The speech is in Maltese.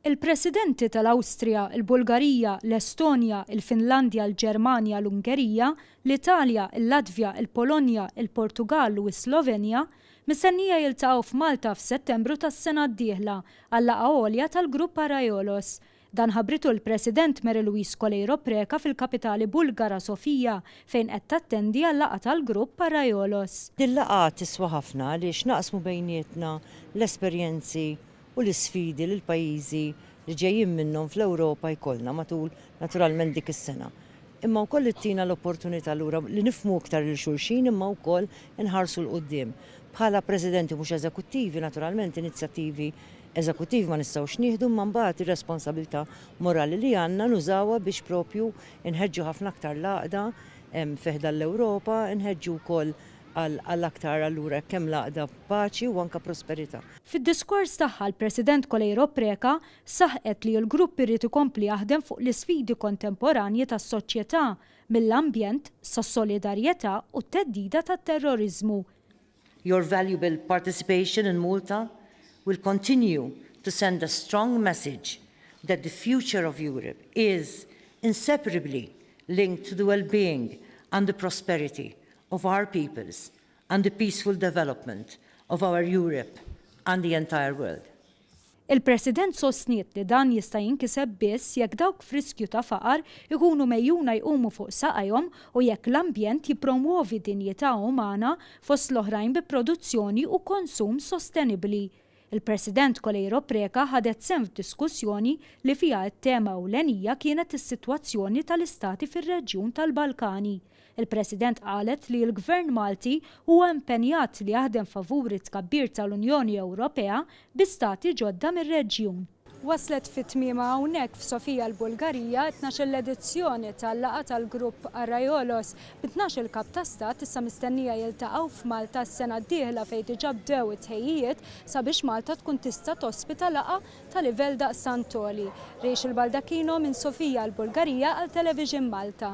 Il-Presidenti tal-Awstrija, il-Bulgarija, l-Estonja, il-Finlandja, l-Ġermanja, l-Ungerija, l-Italja, il-Latvja, il-Polonja, il-Portugall u s-Slovenja mistennija jiltaqgħu f'Malta f'Settembru tas-sena d-dieħla għal laqgħa għolja tal-Grupp Arraiolos. Dan ħabritu l-President Mary Louise Coleiro Preca fil-kapitali Bulgara Sofia fejn qed tattendi għal laqgħa tal-Grupp Arraiolos. Din laqgħa tiswa ħafna għaliex naqsmu bejnietna l-esperjenzi u l-isfidi li l-pajjiżi li ġejjin minnhom fl-Ewropa jkollna matul naturalment dik is-sena. Imma wkoll ittina l-opportunità lura li nifhmu iktar lil xulxin imma wkoll inħarsu 'l quddiem. Bħala presidenti mhux eżekuttivi naturalment inizjattivi eżekuttivi ma nistgħux nieħdu imma mbagħad ir-responsabilità morali li għandna nużawha biex proprju nħeġġu ħafna aktar l-għaqda fi ħdan l-Ewropa, inħeġġu wkoll Għal aktar allura hekk hemm l-għaqda, paċi u anke prosperità. Fid-diskors tagħha l-President Coleiro Preca saħqet li l-grupp irid ikompli jaħdem fuq l-isfidi kontemporanji tas-soċjetà, mill-ambjent, sas-solidarjetà u t-theddida tat-terroriżmu. Your valuable participation in Malta will continue to send a strong message that the future of Europe is inseparably linked to the well-being and the prosperity of our peoples and the peaceful development of our Europe and the entire world. Il-President sostniet li dan jista' jinkiseb biss jekk dawk f'riskju ta' faqar ikunu megħjuna jqumu fuq saqajhom u jekk l-ambjent jippromwovi dinjità umana fost l-oħrajn bi produzzjoni u konsum sostenibbli. Il-President Coleiro Preca ħadet sehem f'diskussjoni li fiha t-tema ewlenija kienet is-sitwazzjoni tal-istati fir-reġjun tal-Balkani. Il-President qalet li l-Gvern Malti huwa impenjat li jaħdem favur it-tkabbir tal-Unjoni Ewropea bi stati ġodda mir-reġjun. Waslet fi tmiemha hawnhekk f'Sofija l-Bulgarija t-tnax-il edizzjoni tal-laqgħa tal-Grupp Arraiolos, bi tnax-il Kap ta' Stat issa mistennija jiltaqgħu f'Malta s-sena d-dieħla fejn diġà bdew it-tħejjijiet sabiex Malta tkun tista' tospita laqgħa ta' livell daqstant għoli. Rachel Baldacchino minn Sofija l-Bulgarija għal Television Malta.